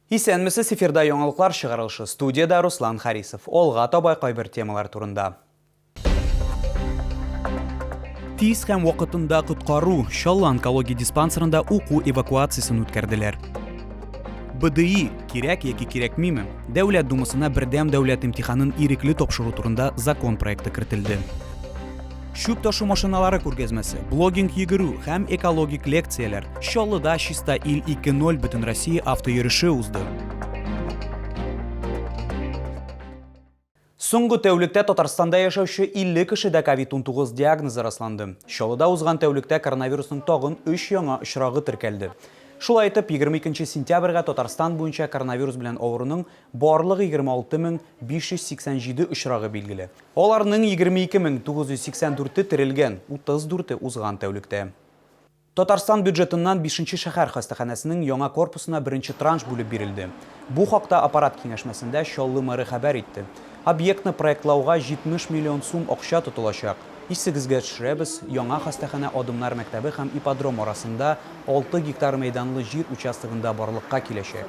Исәнмесез, эфирда яңалыклар чыгарылышы, студиядә Руслан Харисов. Алга таба кайбер темалар турында. Тиз һәм вакытында коткару, Чаллы онкология диспансерында уку эвакуациясен үткәрделәр. БДИ, кирәк яки кирәкмиме, Дәүләт Думасына бердәм дәүләт имтиханын ирекле тапшыру турында закон проекты кертелде. чүп ташу машиналары күргәзмәсе, блогинг йөгерү һәм экологик лекцияләр, Чаллыда Чиста ил 2.0 Бөтенроссия автоереше узды. Соңгы тәүлектә Татарстанда яшәүче 50 кешедә COVID-19 диагнозы расланды. Чаллыда узган тәүлектә коронавирусның тагын 3 яңа очрагы теркәлде. Шулай итеп, 22 сентябрьгә Татарстан буенча коронавирус белән авыруның барлык 26587 очрагы билгеле. Аларның 22 мең 984-е терелгән, 34-е узган тәүлектә. Татарстан бюджетыннан бишенче шәһәр хастаханәсенең яңа корпусына беренче транш бүлеп бирелде. Бу хакта аппарат киңәшмәсендә Чаллы мэры хәбәр итте. Объектны проектлауга 70 миллион сум акча тотылачак. Исегезгә төшерәбез, яңа хастаханә Адымнар мәктәбе һәм ипподром арасында алты гектар мәйданлы җир участогында барлыкка киләчәк.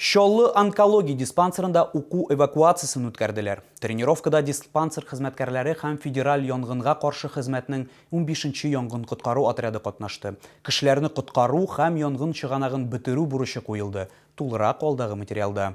Чаллы онкология диспансерында уку эвакуациясен үткәрделәр. Тренировкада диспансер хезмәткәрләре һәм федераль янгынга каршы хезмәтнең унбишенче янгын-коткару отряды катнашты. Кешеләрне коткару һәм янгын чыганагын бетерү бурычы куелды, тулырак алдагы материалда.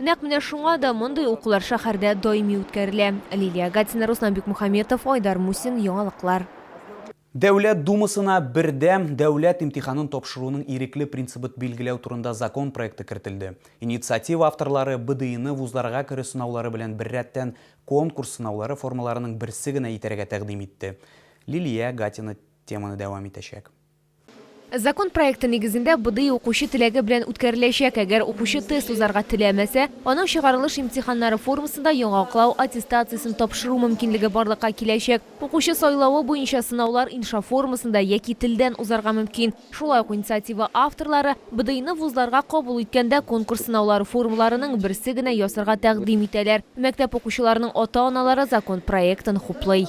Нәкъ менә шуңа да мондый укулар шәһәрдә даими үткәрелә. Лилия Гатина, Руслан Бикмөхәмметов, Айдар Мусин, Яңалыклар. Дәүләт Думасына Бердәм дәүләт имтиханын тапшыруның ирекле принцибыт билгеләү турында закон проекты кертелде. Инициатива авторлары БДИны вузларга керү сынаулары белән беррәттән конкурс сынаулары формаларының берсе генә итәргә тәкъдим итте. Лилия Гатина теманы дәвам итәчәк. Закон проекты нигезендә БДИ укучы теләге белән үткәреләчәк. Әгәр укучы тест узарга теләмәсә, аның чыгарылыш имтиханнары формасында яңаклау аттестациясен тапшыру мөмкинлеге барлыкка киләчәк. Укучы сайлавы буенча сынаулар инша формасында яки телдән узарга мөмкин. Шулай ук инициатива авторлары БДИны вузларга кабул иткәндә конкурс сынаулары формаларының берсе генә ясарга тәкъдим итәләр. Мәктәп укучыларының ата-аналары закон проектын хуплый.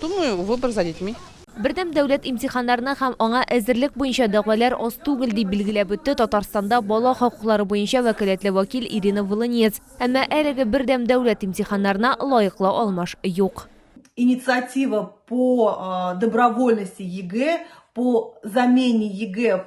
Думаю, выбор за детьми. Бердәм дәүләт имтиханнарына һәм аңа әзерлек буенча дәгъвалар аз түгел, дип билгеләп үтте Татарстанда бала хокуклары буенча вәкаләтле вәкил Ирина Волынец. Әмма әлеге бердәм дәүләт имтиханнарына лаеклы алмаш юк. Инициатива по добровольности ЕГЭ, по замене ЕГЭ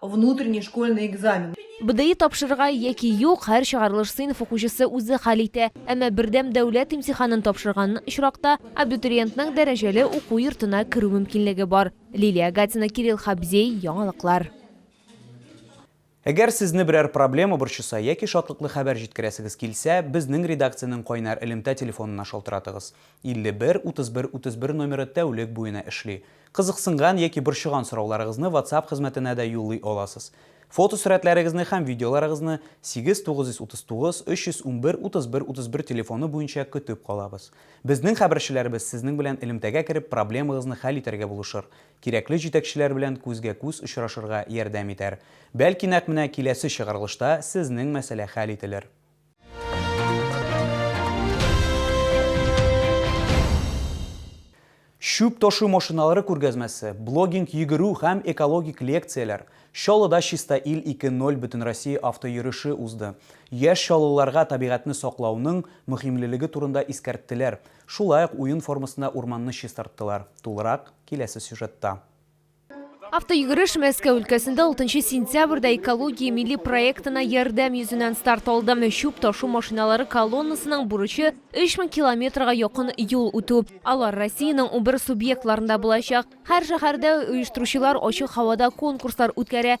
внутренний школьный экзамен. БДИ тапшырырга яки юк, һәр чыгарылыш сыйныф укучысы үзе хәл итә. Әмма бердәм дәүләт имтиханын тапшырган очракта абитуриентның дәрәҗәле уку йортына керү мөмкинлеге бар. Лилия Гатина, Кирилл Хабзей, Яңалыклар. Әгәр сезне берәр проблема борчыса яки шатлыклы хәбәр җиткерәсегез килсә, безнең редакциянең кайнар элемтә телефонына шалтыратыгыз. 51 31 31 номеры тәүлек буена эшли. Кызыксынган яки борчыган сорауларыгызны WhatsApp хезмәтенә дә юллый аласыз. Фотосурәтләрегезне һәм видеоларыгызны 8-939 311 31 31 телефоны буенча көтеп калабыз. Безнең хәбәрчеләребез сезнең белән элемтәгә кереп проблемагызны хәл итәргә булышыр, кирәкле җитәкчеләр белән күзгә-күз очрашырга ярдәм итәр. Бәлки нәкъ менә киләсе чыгарылышта сезнең мәсьәлә хәл ителер. Чүп ташу машиналары күргәзмәсе, блогинг йөгерү һәм экологик лекцияләр, Чаллыда Чиста ил 2.0 Бөтенроссия автойөреше узды. Яшь чаллыларга табигатьне саклауның мөһимлелеге турында искәрттеләр, шулай ук уен формасында урманны чистарттылар. Тулырак, киләсе сюжетта. Автойөгереш Мәскәү өлкәсендә 6 сентябрьдә экология милли проектына ярдәм йөзеннән старт алды. Чүп ташу машиналары колоннасының бурычы 3000 километрга якын юл үтү. Алар Россиянең 11 субъектларында булачак. Һәр шәһәрдә оештыручылар ачык һавада конкурслар үткәрә.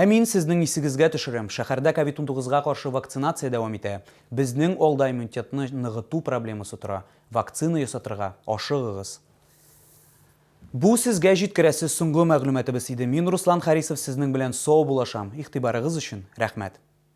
Ә мин сезнең исегезгә төшерәм, шәһәрдә ковид унтугызга каршы вакцинация дәвам итә. Безнең алда иммунитетны ныгыту проблемасы тора. Вакцина ясатырга ашыгыгыз. Бу сезгә җиткерәсе соңгы мәгълүматыбыз иде. Мин Руслан Харисов сезнең белән сау булашам. Игътибарыгыз өчен рәхмәт.